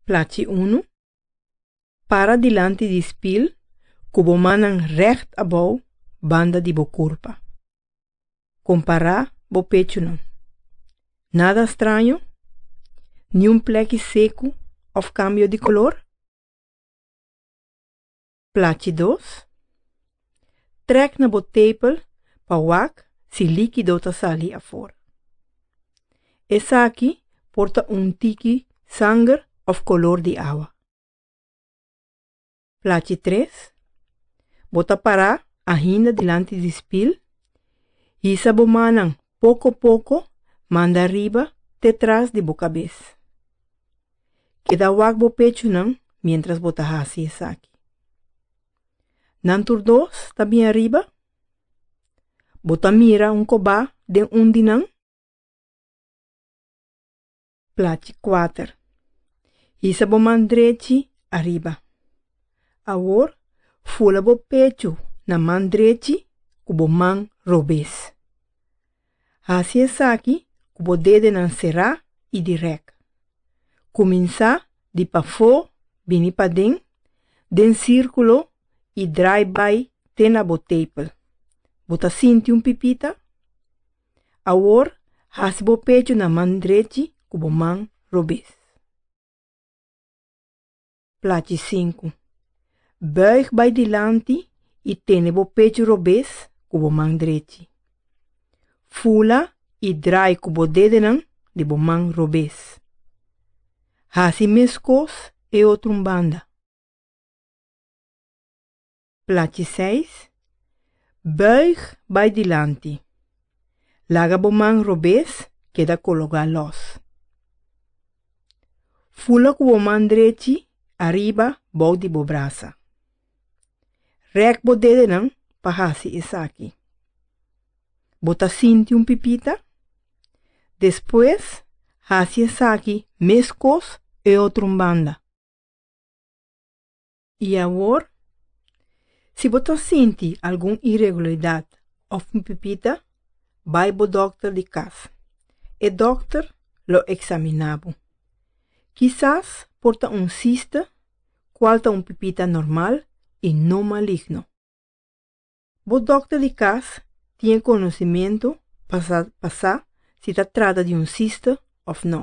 Plachi unu, Para dilanti di spil ku bo mannan règt abou banda di bo kurpa. Kompará bo pechunan. Nada straño? Niun plèki seku òf kambio di kolor? Plachi dos. Trek na bo tepel pa wak si likido ta sali afor. Esaki por ta un tiki sanger of kolor di awa. Plachi tres. Bo ta para ahinda dilanti di spil, hisa bo manan Poko poko manda riba te tras di bo kabes. Keda wak bo pechunan mientras bo ta hasi esaki. Nan tur dos ta bin ariba? Bo ta mira un kobá den un di nan? Plachi kuater. Hisa bo man drechi ariba. Awor fula bo pechu na man drechi ku bo man robes. Hasi esaki ku bo dedenan será i dirèk. Kuminsá di pafó bini paden den sírkulo i drai bai te na bo tepel. Bo ta sinti un pipita? Awor, hasi bo pechu na man drechi ku bo man robes. Plachi sinku. Bùig bai dilanti i tene bo pechu robes ku bo man drechi. Fula i drai ku bo dedenan di bo man robes. Hasi meskos e otrun banda. Plachi seis, Buig bai dilanti. Laga bo man robes, keda kologá lòs. Fula ku bo man drechi ariba bou di bo brasa. Rèk bo dedenan pa hasi esaki. Bo ta sinti un pipita? Despues, hasi esaki meskos e otro un banda. I awor? Si bo ta sinti algun iregularidat òf un pipita, bai bo dòkter di kas. E dòkter lo eksaminá bo. Kisas por ta un sista, kual ta un pipita normal i no maligno. Bo dòkter di kas tin e konosimentu pa sa si ta trata di un siste òf nò.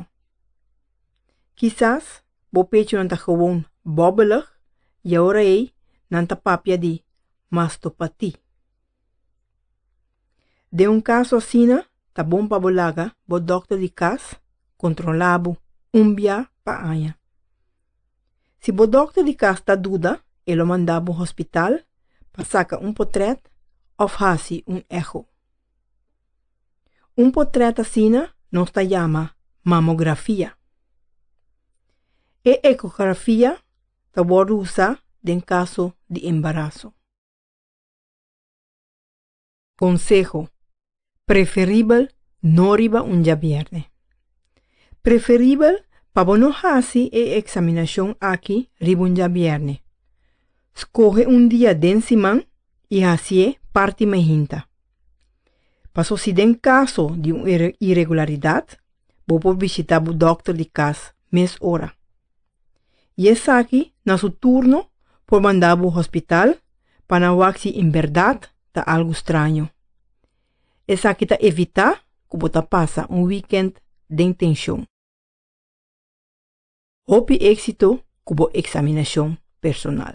Kisas bo pechunan ta gewoon bòbbelig i awor ei nan ta papia di mastopati. Den un kaso asina ta bon pa bo laga bo dòkter di kas kontrolá bo un bia pa aña. Si bo dokter di kas ta duda, e lo manda bo hospital pa saka un potrèt òf hasi un eho. Un potrèt asina nos ta yama mamografia. E ekografia ta wòrdu usá den kaso di embaraso. Conseho, Preferibel no riba un djabièrnè. Preferibel pa bo no hasi e eksaminashon aki riba un djabièrnè. Skohe un dia den siman i hasié parti mei hinta. Paso si den kaso di un iregularidat, bo por bishitá bo dòkter di kas mes ora. I esaki na su turno por manda bo hospital pa nan wak si en berdad ta algu straño. Esaki ta evitá ku bo ta pasa un wikènt den tenshon. Hopi éksito ku bo eksaminashon personal.